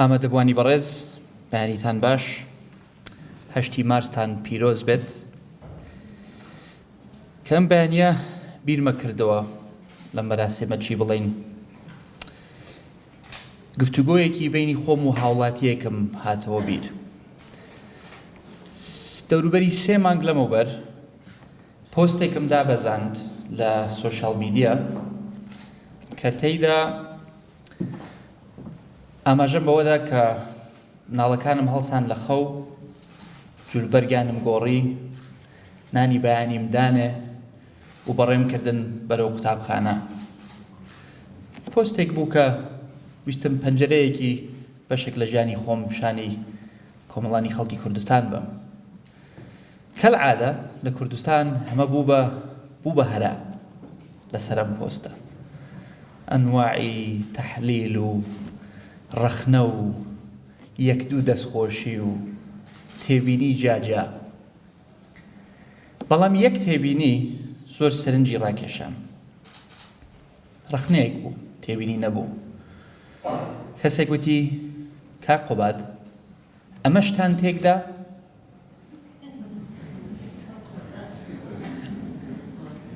ئامادەبووانی بەڕێز بەیانیتان باش هەشتی مارستان پیرۆز بێت کەم بەیانە بیرمە کردەوە لەم بەراسێمە چی بڵین گفتوگۆیەکی بینی خۆم و هاوڵاتیەکەم هاتەوە بیر دەوروبەری سێ مانگ لەمەوبەر پۆستێکم دابەزاند لە سۆشال میدیا کە تێیدا ئاماژەم بەوەدا کە ناڵەکانم هەڵسان لە خەو جولبەرگانم گۆڕی نانی بەیانیم دانێ و بەڕێم کردن بەرەو قوتابخانە پۆستێک بوو کە ویستم پەنجەرەیەکی بەشێک لە ژیانی خۆم پیشانی کۆمەڵانی خەڵکی کوردستان بم کەلعادە لە کوردستان هەمە بوو بە بوو بە هەرا لە سەرم پۆستە ئەنواعی تەحلیل و ڕەخنە و یەک دوو دەستخۆشی و تێبینی جاجا بەڵام یەک تێبینی زۆر سەرنجی ڕاکێشام ڕەخنەیەک بوو تێبینی نەبوو کەسێک وتی کا قوباد ئەمەشتان تێکدا؟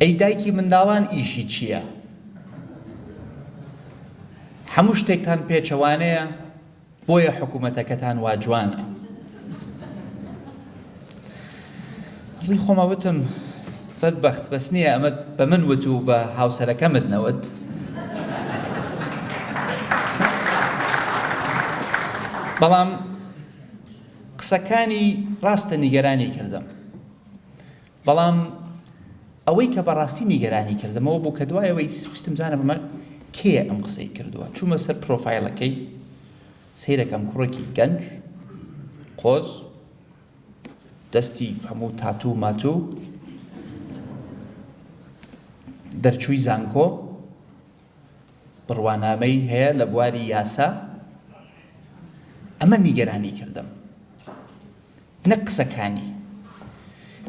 ئەی دایکی منداڵان ئیشی چییە؟ هەموو شتێکتان پێچەوانەیە بۆیە حکوومەتەکەتان وا جوانە. ئەسڵی خۆمە وتم بەد بەخت بەس نییە ئەمە بە من وت و بە هاوسەرەکەمت نەوت بەڵام قسەکانی ڕاستە نیگەرانی کردم بەڵام ئەوەی کە بەڕاستی نیگەرانی کردمەوە بوو کە دوایەوەی سوستم زانە بمە کێ ئەم قسەی کردووە چوومە سەر پرۆفایلەکەی سیرەکەم کوڕێکی گەنج قۆز دەستی هەموو تاتوو و ماتوو دەرچووی زانکۆ بڕوانامەی هەیە لە بواری یاسا ئەمە نیگەرانی کردم نە قسەکانی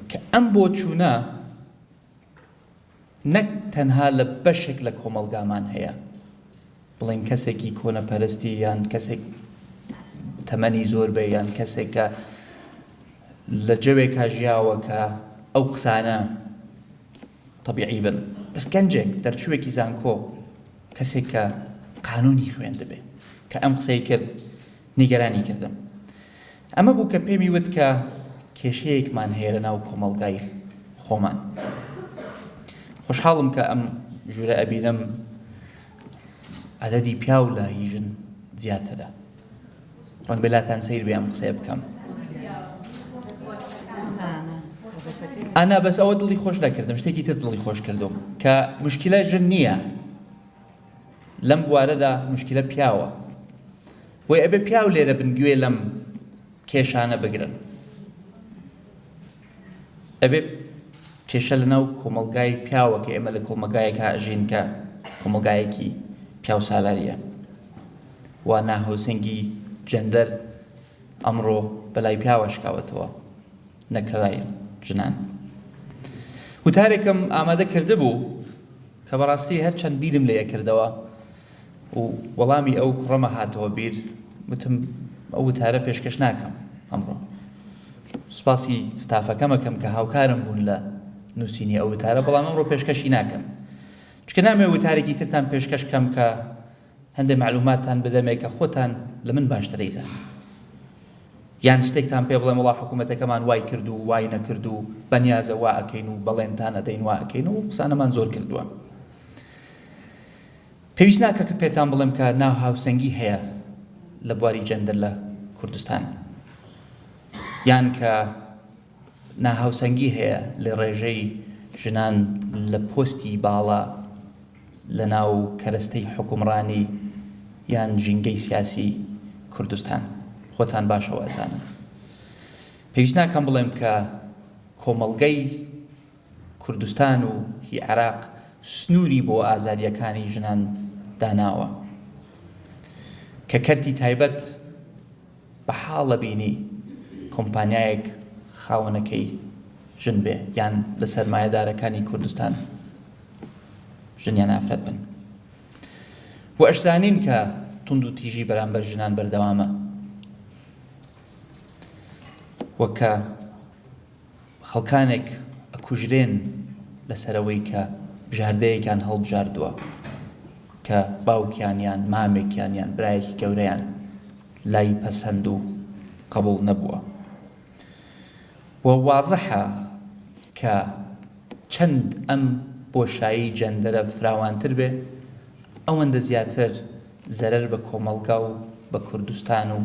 کە ئەم بۆ چوونە نەک تەنها لە بەشێک لە کۆمەڵگامان هەیە بڵێن کەسێکی کۆنەپەرستی یان کەسێک تەمەنی زۆر بێ یان کەسێکە لە جەوێکا ژیاوە کە ئەو قسانە طبیعی بن بەس گەنجێک دەرچووێکی زانکۆ کەسێک کە قانونی خوێندبێ کە ئەم قسەی کرد نیگەرانی کردم ئەمە بوو کە پێمی وت کە کێشەیەکمان هەیە لە ناو کۆمەڵگای خۆمان. خۆشحاڵم کە ئەم ژوورە ئەبینم عەدەدی پیاو لە هی ژن زیاترە. ڕەنگ بێلاتان سیر بێ ئەم قسەیە بکەم. ئانا بەس ئەوە دڵی خۆش نەکردم شتێکی تر دڵی خۆش کردم کە مشکلە ژن نییە لەم بوارەدا موشکیلە پیاوە بۆی ئەبێ پیاو لێرە بن گوێ لەم کێشانە بگرن ئەبێ کێشە لە ناو کۆمەلگای پیاوە کە ئێمە لە کۆمەگایەک هاژین کە کۆمەگایەکی پیاو سالاریە و ناهۆسەنگی جەندەر ئەمڕۆ بەلای پیاوە شکاوەتەوە نەکەلای ژنان وتارێکم ئامادە کردبوو کە بەڕاستی هەرچەند بیرم لێ کردەوە و وەڵامی ئەو کوڕەمە هاتەوە بیر وتم ئەو وتارە پێشکەش ناکەم ئەمڕۆ سوپاسی ستافەکەمەکەم کە هاوکارم بوون لە نووسینی ئەو وتارە بەڵام ئەمڕۆ پێشکەشی ناکەم چکە نامێ وتارێکی ترتان پێشکەش کەم کە هەندێ مەعلوماتتان بدەمێ کە خۆتان لە من باشتر ئەیزانن یان شتێکتان پێ بڵێم وڵا حکوومەتەکەمان وای کرد و وای نەکرد و بەنیازە وا ئەکەین و بەڵێنتان ئەدەین وا ئەکەین و قسانەمان زۆر کردووە پێویست ناکە کە پێتان بڵێم کە ناو هاوسەنگی هەیە لە بواری جەندر لە کوردستان یان کە ناهاوسەنگی هەیە لە ڕێژەی ژنان لە پۆستی باڵا لە ناو کەرەستەی حوکمڕانی یان ژینگەی سیاسی کوردستان خۆتان باشەوە ئەزانن پێویست ناکەم بڵێم کە کۆمەڵگەی کوردستان و هی عراق سنووری بۆ ئازادیەکانی ژنان داناوە کە کەرتی تایبەت بە حاڵە بینی کۆمپانیایەک خاوەنەکەی ژن بێ یان لە سەرمایەدارەکانی کوردستان ژنیان ئافرەت بن و ئەشزانین کە تونند و تیژی بەرامبەر ژنان بەردەوامە وەکە خەڵکانێک ئەکوژرێن لەسەرەوەی کە بژاردەیەکیان هەڵبژاردووە کە باوکیان یان مامێکیان یان برایەکی گەورەیان لای پەسەند و قبول نەبووە و وازحە کە چەند ئەم بۆشایی جەندەرە فراوانتر بێ ئەوەندە زیاتر زەرەر بە کۆمەڵگا و بە کوردستان و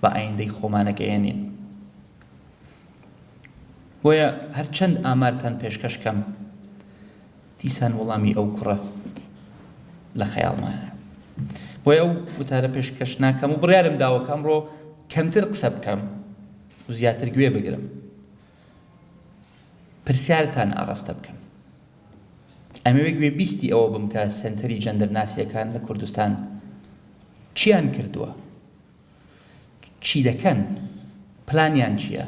بە ئایندەی خۆمانەگەیەنین. بۆیە هەر چەند ئامارتان پێشکەش کەم دیسان وەڵامی ئەو کوڕە لە خەیاڵمانە بۆیە ئەو وتارە پێشکەش ناکەم و بڕیارم داوە کە ئەمڕۆ کەمتر قسە بکەم و زیاتر گوێ بگرم پرسیارتان ئاڕاستە بکەم ئەمەوێ گوێ بیستی ئەوە بم کە سنتەری جەندەرناسیەکان لە کوردستان چیان کردووە چی دەکەن؟ پلانیان چیە؟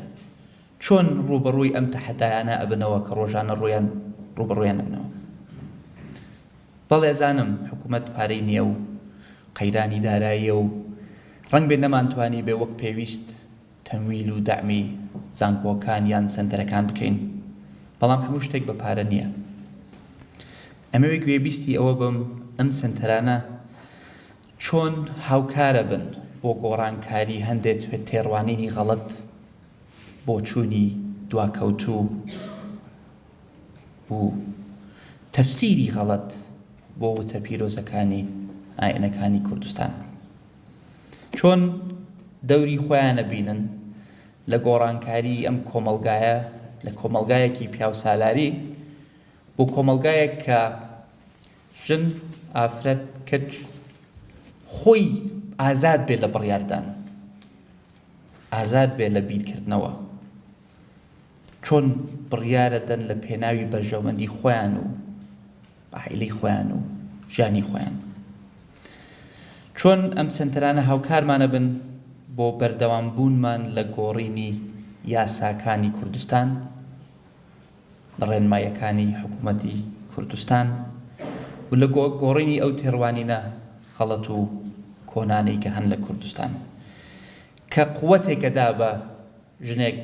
چۆن ڕووبەڕووی ئەم تەحەدایانە ئەبنەوە کە ڕۆژانە ڕوویان ڕووبەڕوویان ئەبنەوە؟ بەڵێ ئەزانم حکومەت پارەی نیە و قەیرانی داراییە و ڕەنگبێ نەمانتوانیبێ وەک پێویست تەمویل و دەعمی زانکۆکان یان سەنتەرەکان بکەین بەڵام هەموو شتێک بە پارە نیە. ئەمەوێ گوێبیستی ئەوە بم ئەم سەنتەرانە، چۆن هاوکارەبن بۆ گۆڕانکاری هەندێ تێڕوانینی غەڵەت، بۆچوونی دواکەوتوو و تەفسیری غەڵەت بۆ وتە پیرۆزەکانی ئاینەکانی کوردستان؟ چۆن دەوری خۆیان ئەبینن لە گۆڕانکاری ئەم کۆمەڵگایە لە کۆمەڵگایەکی پیاوسالاری بۆ کۆمەڵگایەک کە ژن، ئافرەت، کچ خۆی ئازاد بێت لە بڕیاردان، ئازاد بێت لە بیرکردنەوە، چۆن بڕیارەدەن لە پێناوی بەرژەوەندی خۆیان و عائیلەی خۆیان و ژیانی خۆیان. چۆن ئەم سەنتەرانە هاوکارمانە بن بۆ بەردەوام بوونمان لە گۆڕینی یاساکانی کوردستان لە ڕێنماییەکانی حکوومەتی کوردستان و لە گۆڕینی ئەو تێڕوانینە غەڵەت و کۆنانەی کە هەن لە کوردستان کە قووەتێکە دا بە ژنێک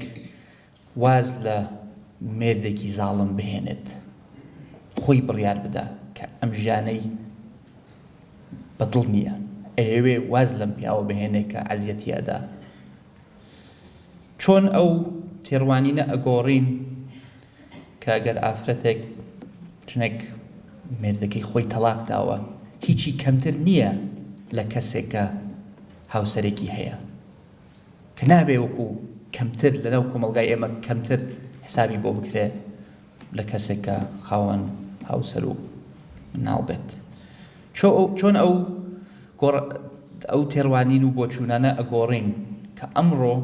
واز لە مێردێکی زاڵم بهێنێت خۆی بڕیار بدا کە ئەم ژیانەی بەدڵ نییە ئەیەوێ واز لەم پیاوە بهێنێ کە عەزیەتی ئەدا. چۆن ئەو تێڕوانینە ئەگۆڕین کە گەر ئافرەتێک ژنێک مێردەکەی خۆی تەڵاق داوە هیچی کەمتر نییە لە کەسێکە هاوسەرێکی هەیە کە نابێ وەکو کەمتر لەناو کۆمەلگای ئێمە کەمتر حسابی بۆ بکرێ لە کەسێکە خاوەن هاوسەر و مناڵ بێت چۆن ئەو گۆڕ ئەو تێڕوانین و بۆچوونانە ئەگۆڕین کە ئەمڕۆ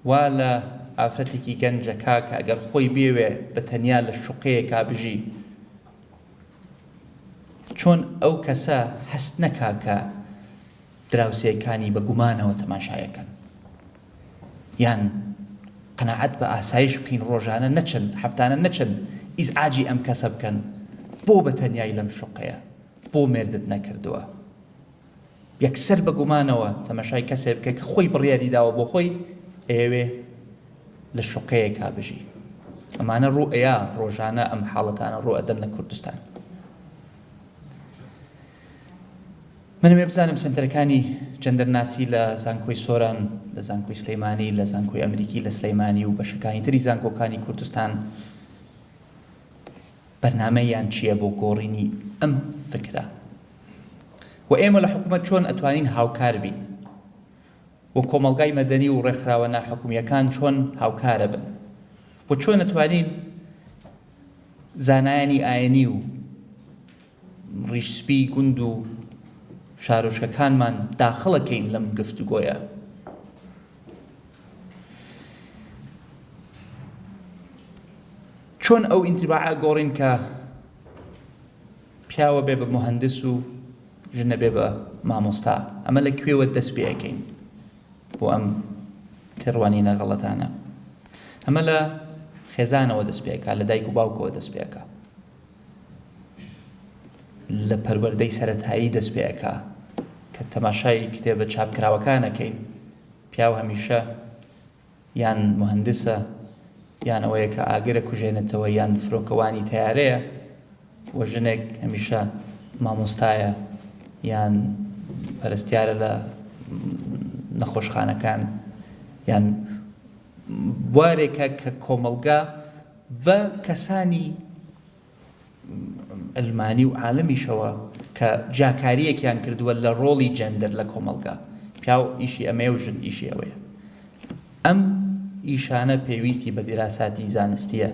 وا لە ئافرەتێکی گەنجە کا کە ئەگەر خۆی بێوێ بە تەنیا لە شوقەیەکا بژی چۆن ئەو کەسە هەست نەکا کە دراوسێکانی بە گومانەوە تەماشای ئەکەن. یان قەناعەت بە ئاسایش بکەین ڕۆژانە نەچن هەفتانە نەچن ئیزعاجی ئەم کەسە بکەن بۆ بە تەنیای لەم شوقەیە بۆ مێردت نەکردووە یەکسەر بە گومانەوە تەمەشای کەسێ بکە کە خۆی بڕیاری داوە بۆ خۆی ئەیەوێ لە شوقەیەکا بژی ئەمانە ڕوو ئەیە ڕۆژانە ئەم حاڵەتانە ڕوئەدەن لە کوردستان من ئەمەی بزانم سەنتەرەکانی جەندەرناسی لە زانکۆی سۆران، لە زانکۆی سلێمانی، لە زانکۆی ئەمریکی لە سلێمانی و بەشەکانی تری زانکۆکانی کوردستان بەرنامەیان چییە بۆ گۆڕینی ئەم فکرە؟ و ئێمە لە حکومەت چۆن ئەتوانین هاوکار بین؟ و کۆمەڵگای مەدەنی و ڕێکخراوە ناحکومییەکان چۆن هاوکارە بن؟ و چۆن ئەتوانین زانایانی ئاینی و ڕیش سپی گوند و شارۆچکەکانمان داخڵەکەین لەم گفتوگۆیە. چۆن ئەو ئینتیباعە گۆڕین کە پیاوە بێ بە مهندس و ژنە بێ بە مامۆستا ئەمە لە کوێوە دەست پێەکەین بۆ ئەم تێڕوانینە غەڵەتانە ئەمە لە خێزانەوە دەست پێکا لە دایک و باوکەوە دەست پێکە لە پەروەردەی سەرەتایی دەست پێەکا کە تەماشای کتێبە چاپکراوەکانەکەین پیاو هەمیشە یان مهندسە یان ئەوەیە کە ئاگرە کوژێنێتەوە یان فرۆکەوانی تیارەیە و ژنێک هەمیشە مامۆستایە یان پەرستیارە لە نەخۆشخانەکان یان بوارێکە کە کۆمەلگا بە کەسانی عەلمانی و عالمیشەوە کە جیاکارییەکیان کردووە لە ڕۆڵی جێندەر لە کۆمەڵگا، پیاو ئیشی ئەمەیە و ژن ئیشی ئەوەیە. ئەم ئیشانە پێویستی بە دیراساتی زانستییە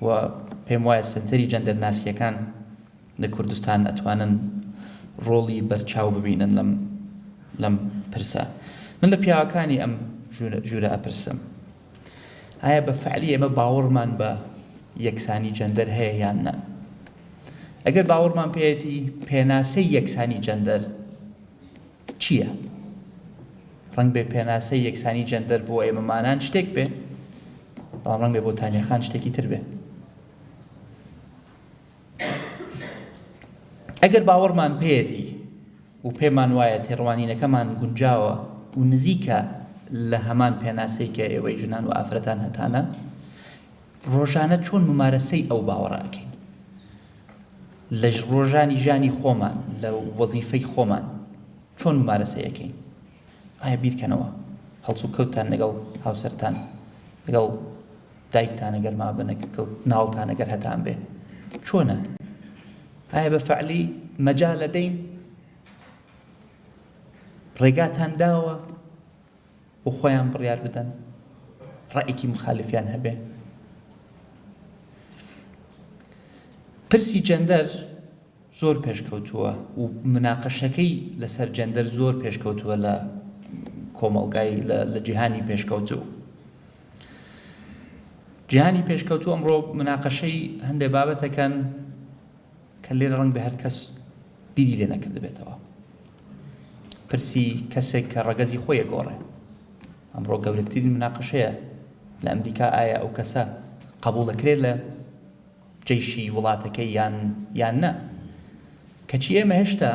و پێم وایە سەنتەری جێندەرناسییەکان لە کوردستان ئەتوانن ڕۆڵی بەرچاو ببینن لەم لەم پرسە. من لە پیاوەکانی ئەم ژوورە ئەپرسم. ئایا بە فعلی ئێمە باوەڕمان بە یەکسانی جەندەر هەیە یان نە ئەگەر باوەڕمان پێەتی پێناسەی یەکسانی جەندەر چییە؟ ڕنگ بێ پێناسەی یەکسانی جەندەر بۆ ئێمەمانان شتێک بێ بەڵام ڕنگ بێ بۆ تانیەخان شتێکی تر بێ ئەگەر باوەڕمان پێیەتی و پێمان وایە تێڕوانینەکەمان گونجاوە و نزیکە لە هەمان پێناسەی کە ئێوەی ژنان و ئافرەتان هەتانە ڕۆژانە چۆن ممارەسەی ئەو باوەڕەکەی لە ڕۆژانی ژانی خۆمان لە وەزیفەی خۆمان چۆن مارەسەیەکەین ئایا بیرکەنەوە هەڵسوکەوتتان لەگەڵ هاوسەرتان، لەگەڵ دایکتان ئەگەر مابن، لەگەڵ مناڵتان ئەگەر هەتان بێ چۆنە؟ ئایا بە فەعلی مەجالە دەین؟ ڕێگاتان داوە بۆ خۆیان بڕیار بدەن؟ ڕائێکی مخالفیان هەبێ؟ پرسی جەندەر زۆر پێشکەوتووە و مناقەشەکەی لەسەر جێندەر زۆر پێشکەوتووە لە کۆمەڵگای لە جیهانی پێشکەوتوو. جیهانی پێشکەوتوو ئەمڕۆ مناقەشەی هەندێک بابەتەکەن کە لێرە ڕەنگ بە هەر کەس بیری لێ نەکردبێتەوە. پرسی کەسێک کە ڕەگەزی خۆیە گۆڕێ. ئەمڕۆ گەورەترین مناقەشەیە لە ئەمریکا ئایا ئەو کەسە قبولەکرێت لە جەیشی وڵاتەکەی یان یان نا کەچی ئێمە هێشتا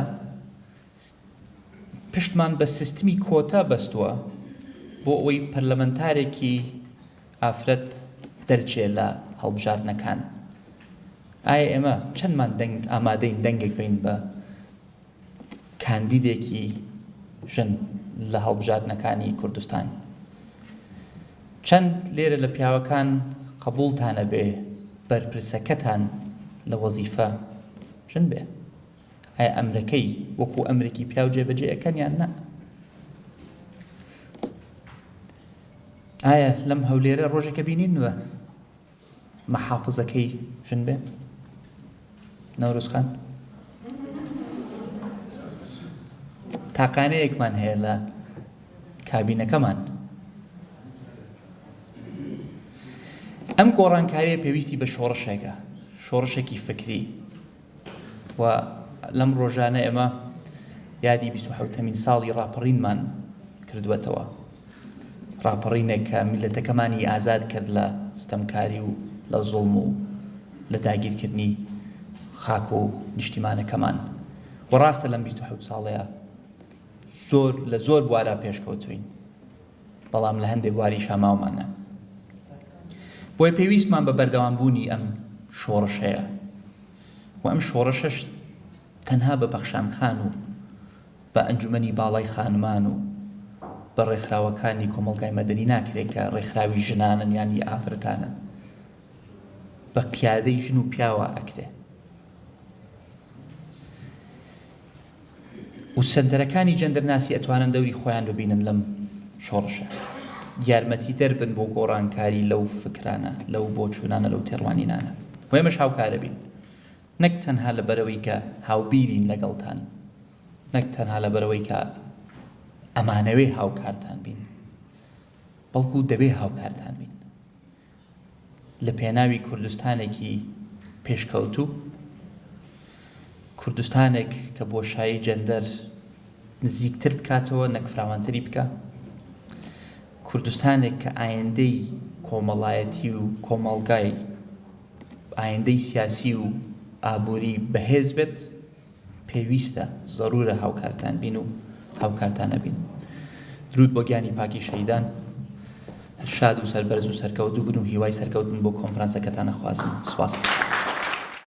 پشتمان بە سیستمی کۆتا بەستووە بۆ ئەوەی پەرلەمەنتارێکی ئافرەت دەرچێ لە هەڵبژاردنەکان ئایا ئێمە چەندمان دەنگ ئامادەین دەنگێک بین بە کاندیدێکی ژن لە هەڵبژاردنەکانی کوردستان چەند لێرە لە پیاوەکان قبولتانە بێ بەرپرسەکەتان لە وەزیفە ژن بێ ئایا ئەمرەکەی وەکو ئەمرێکی پیاو جێبەجێ ئەەکەن یان نە ئایا لەم هەولێرە ڕۆژێکە بینین وە محافزەکەی ژن بێ نەورۆز خان تاقانەیەکمان هەیە لە کابینەکەمان ئەم گۆڕانکاریە پێویستی بە شۆڕشێکە شۆڕشێکی فکری و لەم ڕۆژانە ئێمە یادی بیست و حەوتەمین ساڵی ڕاپەڕینمان کردووەتەوە ڕاپەڕینێک کە میلەتەکەمانی ئازاد کرد لە ستەمکاری و لە زوڵم و لە داگیرکردنی خاک و نیشتیمانەکەمان و ڕاستە لەم بیست و حەوت ساڵەیە زۆر لە زۆر بوارە پێشکەوتوین بەڵام لە هەندێک بواریشا ماومانە بۆیە پێویستمان بە بەردەوام بوونی ئەم شۆڕشەیە و ئەم شۆڕشەش تەنها بە پەخشان خان و بە ئەنجومەنی باڵای خانمان و بە ڕێکخراوەکانی کۆمەڵگای مەدەنی ناکرێت کە ڕێکخراوی ژنانن یانی ئافرەتانن بە قیادەی ژن و پیاوە ئەکرێ و سەنتەرەکانی جەندەرناسی ئەتوانن دەوری خۆیان ببینن لەم شۆڕشە یارمەتی دەربن بۆ گۆڕانکاری لەو فکرانە لەو بۆچوونانە لەو تێڕوانینانە و ئێمەش هاوکارە بین نەک تەنها لە بەرەوەی کە هاوبیرین لەگەڵتان نەک تەنها لە بەرەوەی کە ئەمانەوێ هاوکارتان بین بەڵکو دەبێ هاوکارتان بین لە پێناوی کوردستانێکی پێشکەوتوو، کوردستانێک کە بۆشایی جەندەر نزیکتر بکاتەوە نەک فراوانتری بکە، کوردستانێک کە ئایندەی کۆمەڵایەتی و کۆمەڵگای ئایندەی سیاسی و ئابووری بەهێز بێت، پێویستە زەرورە هاوکارتان بین و هاوکارتان ئەبین درود بۆ گیانی پاکی شەیدان شاد و سەربەرز و سەرکەوتوبن و هیوای سەرکەوتن بۆ کۆنفرانسەکەتان ئەخوازم سپاس.